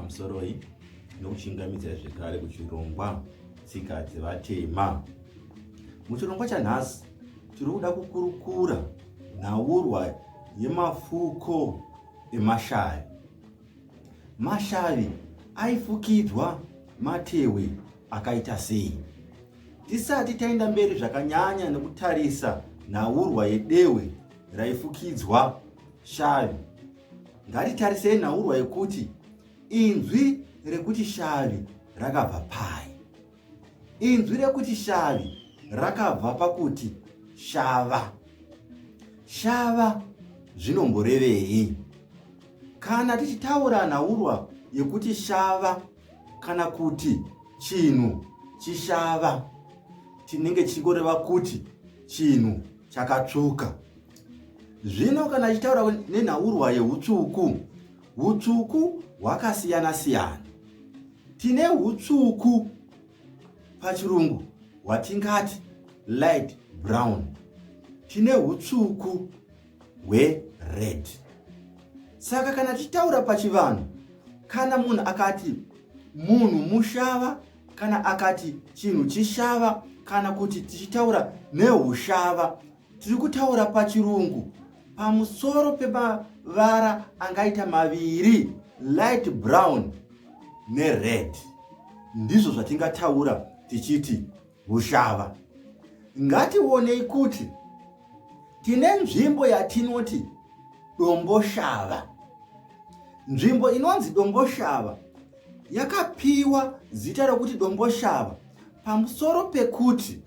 pamusoroi nokuchingamidzira zvekare kuchirongwa tsika dzevatema muchirongwa chanhasi tiri kuda kukurukura nhaurwa yemafuko emashavi mashavi aifukidzwa matewe akaita sei tisati taenda mberi zvakanyanya nekutarisa nhaurwa yedehwe raifukidzwa shavi Ngatitarisei nhaurwa yekuti inzwi rekuti shavi rakabva pai. Inzwi rekuti shavi rakabva pakuti shava. Shava zvinomborevei? Kana tichitaura nhaurwa yekuti shava kana kuti chinhu chishava, tinenge tichingoreva kuti chinhu chakatsvuka. Zvino kana achitaura nenhaurwa yeutsvuku, utsvuku hwakasiyana siyana. Tine utsvuku pachirungu hwatingati light brown, tine utsvuku hwered. Saka kana tichitaura pachivanhu, kana munhu akati munhu mushava kana akati chinhu chishava kana kuti tichitaura neushava Tiri kutaura pachirungu pamusoro pemavara angaita maviri light brown nered. Ndizvo zvatingataura tichiti hushava. Ngationei kuti tine nzvimbo yatinoti domboshava. Nzvimbo inonzi domboshava yakapiwa zita rokuti domboshava pamusoro pekuti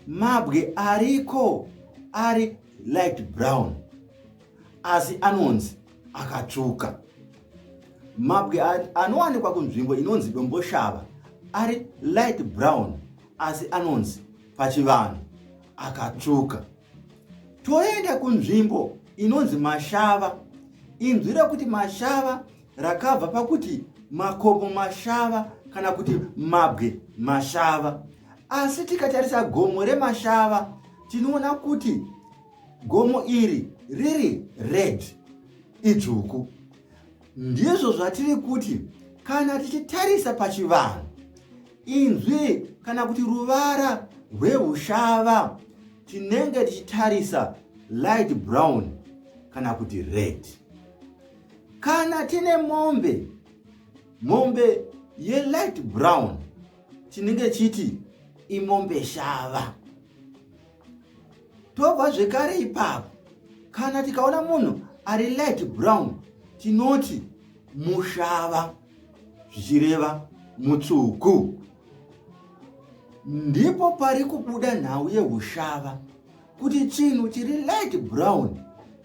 mabwe ariko ari light brown asi anonzi akatsvuka mabwe anowanikwa kunzvimbo inonzi domboshava ari light brown asi anonzi pachivanhu akatsvuka toenda kunzvimbo inonzi mashava inzwi rekuti mashava rakabva pakuti makomo mashava kana kuti mabwe mashava asi tikatarisa gomo remashava tinoona kuti gomo iri riri red idzvuku ndizvo zvatiri kuti kana tichitarisa pachivanhu inzwi kana kuti ruvara rweushava tinenge tichitarisa light brown kana kuti red kana tine mombe mombe yelight brown tinenge chiti imombe shava tobva zvekare ipapo kana tikaona munhu ari light brown tinoti mushava zvichireva mutsvuku ndipo pari kubuda nhau yeushava kuti chinhu chiri light brown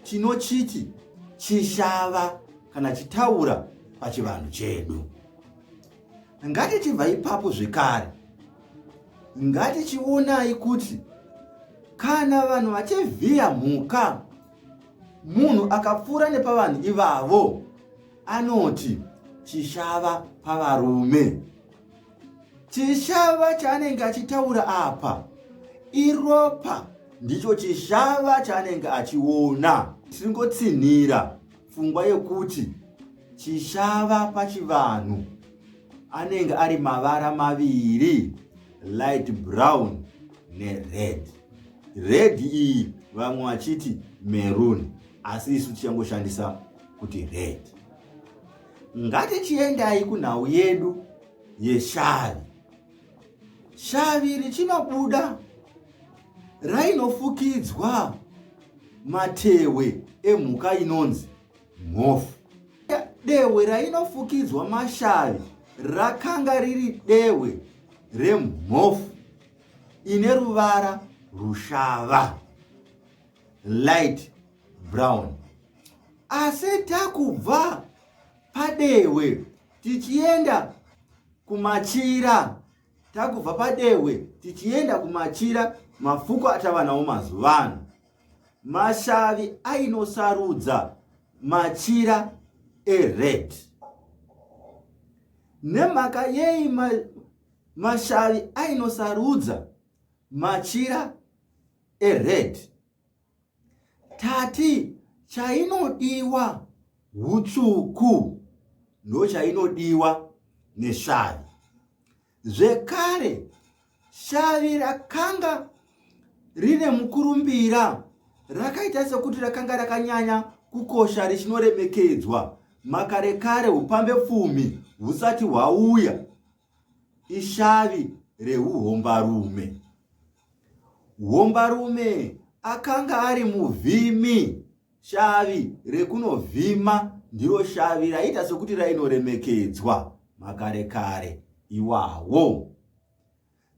chinochiti chishava kana chitaura pachivanhu chedu ngatichibva ipapo zvekare ngatichionai kuti kana vanhu vachivhiya mhuka munhu akapfuura nepavanhu ivavo anoti chishava pavarume chishava chaanenge achitaura apa iropa ndicho chishava chaanenge achiona tiringotsinhira pfungwa yekuti chishava pachivanhu anenge ari mavara maviri light brown nered red iyi vamwe vachiti meruni asi isu tichangoshandisa kuti red Ngatichiendai kunhau yedu yeshavi. Shavi richinobuda rainofukidzwa matewe emhuka inonzi mhofu. Dehwe rainofukidzwa mashavi rakanga riri dehwe remhofu ine ruvara rushava light brown. Asi takubva padehwe tichienda kumachira takubva padehwe tichienda kumachira mafuko atava nawo mazuva ano mashavi ainosarudza machira ered nemhaka yei ma, mashavi ainosarudza machira ered tati chainodiwa hutsvuku ndochainodiwa neshavi zvekare shavi rakanga rine mukurumbira rakaita sekuti rakanga rakanyanya kukosha richinoremekedzwa makare kare upambe pfumi husati hwauya ishavi reuhombarume. Hombarume akanga ari muvhimi, shavi rekunovhima ndiro shavi raiita sokuti rainoremekedzwa makare kare iwawo.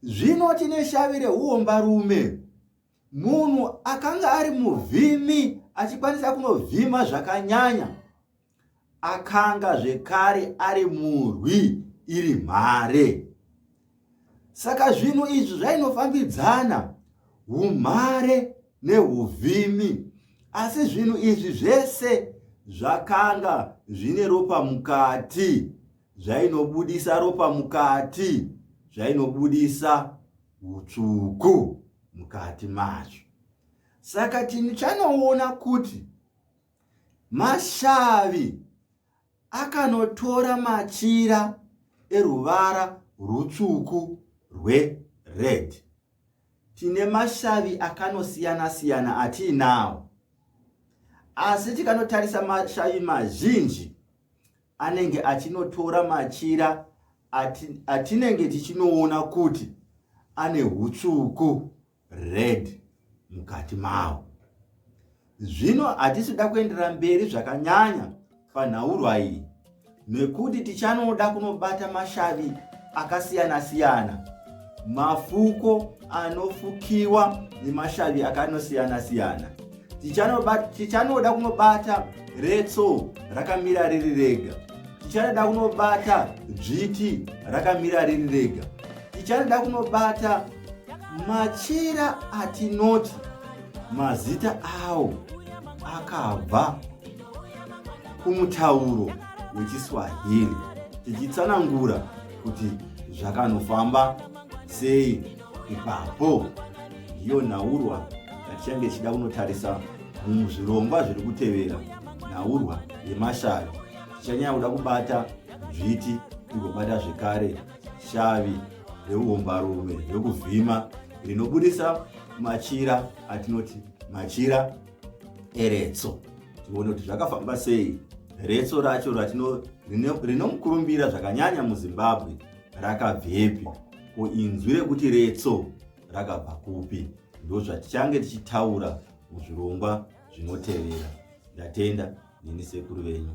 Zvino tine shavi reuhombarume Munhu akanga ari muvhimi achikwanisa kunovhima zvakanyanya akanga zvekare ari murwi iri mhare. Saka zvinhu izvi zvainofambidzana umhare neuvhimi asi zvinhu izvi zvese zvakanga zvine ropa mukati zvainobudisa ropa mukati zvainobudisa hutsvuku mukati macho saka tichanoona kuti mashavi akanotora machira eruvara rutsvuku rwered tine mashavi akanosiyana siyana atiinawo asi tikanotarisa mashavi mazhinji anenge achinotora machira atinenge tichinoona kuti ane utsuku red mukati mawo zvino hatisi kuda kuendera mberi zvakanyanya panhaurwa iyi nekuti tichanoda kunobata mashavi akasiyana-siyana mafuko anofukiwa nemashavi akanosiyana siyana tichanoda kunobata retso rakamira riri rega tichanoda kunobata dzviti rakamira riri rega tichanoda kunobata machira atinoti mazita awo akabva kumutauro wechiswahili tichitsanangura kuti zvakanofamba sei ipapo ndiyo nhaurwa yatichange tichida kunotarisa muzvirongwa zviri kutevera nhaurwa yemashavi tichanyaya kuda kubata dzviti tigobata zvekare shavi reumbarume rekuvhima rinobudisa machira atinoti machira eretso tione kuti zvakafamba sei retso racho ratino rinomukurumbira zvakanyanya muzimbabwe rakabvepi ko inzwi rekuti retso rakabva kupi ndozvatichange tichitaura muzvirongwa zvinotevera ndatenda neni sekuru venyu